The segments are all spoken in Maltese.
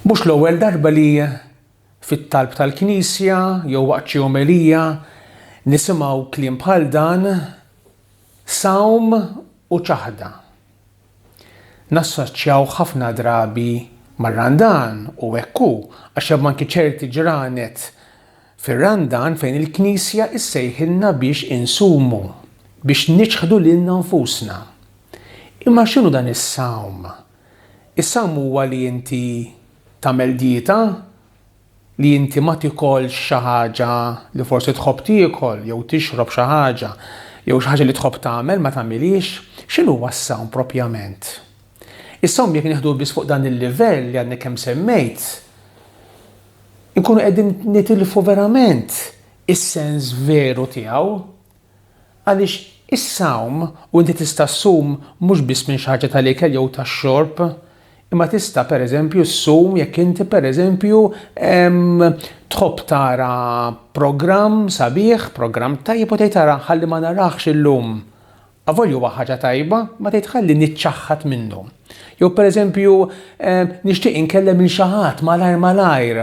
Mhux l-ewwel darba li fit-talb tal-Knisja jew waqt xi omelija nisimgħu kliem bħal dan sawm u ċaħda. Nassoċjaw ħafna drabi mar-Randan u hekk hu għax hemm anki ċerti ġranet fir-Randan fejn il-Knisja ssejħilna biex insumu, biex niċħdu lilna nfusna. Imma x'inhu dan is-sawm? Is-sawm huwa li inti tagħmel dieta, li inti ma tikolx xi ħaġa li forsi tħobb tiekol jew tixrob xi ħaġa jew xi ħaġa li tħobb tagħmel ma tagħmilhiex. X'inhuwa s-sawm propjament? Is-sawm jekk nieħduh biss fuq dan il-livell li għadni kemm semmejt, inkunu qegħdin nitilfu verament is-sens veru tiegħu. Għaliex is-sawm u inti tista' ssum mhux biss minn xi ħaġa tal-ikel jew tax-xorb, imma tista' pereżempju ssum jekk inti pereżempju tħobb tara programm sabiħ, programm tajjeb u tgħid ara ħalli ma narahx illum. Avolja huwa ħaġa tajba, imma tgħid ħalli niċċaħħad minnu. Jew pereżempju nixtieq inkellem lil xi ħadd malajr malajr.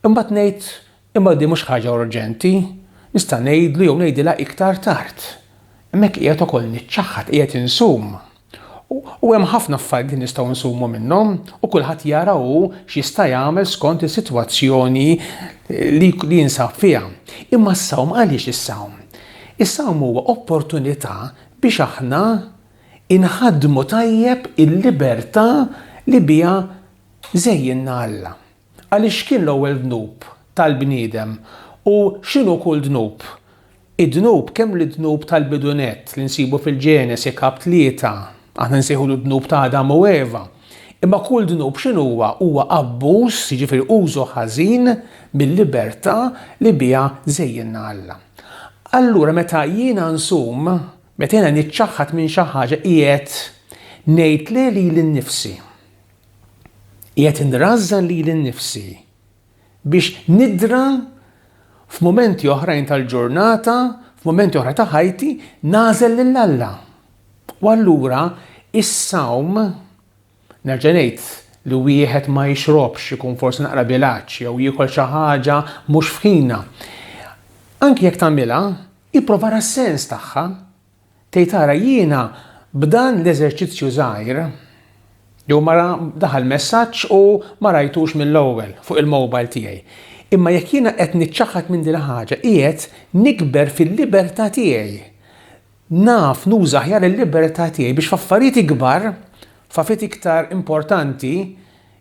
Imbagħad ngħid Imma din mhux ħaġa urġenti, nista' ngħidlu jew ngħidilha iktar tard. Hemmhekk qiegħed ukoll niċċaħħad, qiegħed insum. U, u hemm ħafna affarijiet li nistgħu nsumu minnhom, u kulħadd jara hu x'jista' jagħmel skont is-sitwazzjoni li, li jinsab fiha. Imma s-sawm għaliex is-sawm? Is-sawm huwa opportunità biex aħna inħaddmu tajjeb il-libertà li biha żejjinna Alla. Għaliex x'kien l-ewwel dnub tal-bniedem u x'inhu kull dnub? Id-dnub, kemm l-dnub tal-bidu nett li nsibu fil-Ġenesi, Kap. Tlieta, aħna nsejħulu d-dnub ta' Adam u Eva, imma kull dnub x'inhuwa? Huwa abbuż, jiġifieri użu ħażin mil-libertà li biha żejjinna Alla. Allura meta jiena nsum, meta jiena niċċaħħad minn xi ħaġa qiegħed ngħid le lili nnifsi. Qiegħed inrażżan lili nnifsi biex nidra f'mumenti oħrajn tal-ġurnata, f'mumenti oħra ta' ħajti, nagħżel lil Alla. U allura is-sawm nerġa' ngħid li wieħed ma jixrobx ikun forsi naqra bilaċ jew jiekol xi ħaġa mhux f'ħina. Anki jekk tagħmilha, ipprova sens tagħha Tgħid ara jiena b'dan l-eżerċizzju żgħir, jew mara daħal messaġġ u ma rajtux mill-ewwel fuq il-mobile tiegħi. Imma jekk jiena qed niċċaħħad minn din il-ħaġa qiegħed nikber fil-libertà tiegħi. Naf nuża aħjar il-libertà tiegħi biex f'affarijiet ikbar, f'affarijiet iktar importanti,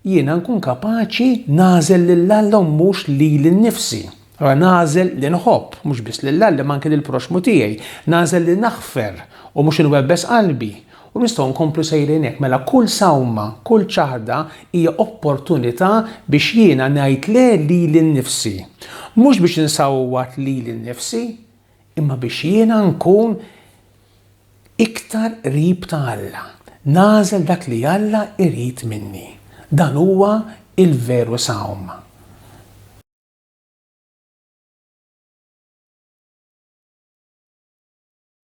Jiena nkun kapaċi nagħżel lil Alla u mhux lili nnifsi. Ara, nagħżel li nħobb, mhux biss lil Alla imma anki lill-proxxmu tiegħi. Nagħżel li naħfer u mhux inwebbes qalbi. U nistgħu nkomplu sejrin hekk. Mela kull sawma, kull ċaħda hija opportunità biex jiena ngħid le lili nnifsi. Mhux biex insawwat lili nnifsi, imma biex jiena nkun iktar qrib ta' Alla, nagħżel dak li Alla jrid minni. Dan huwa l-veru sawm.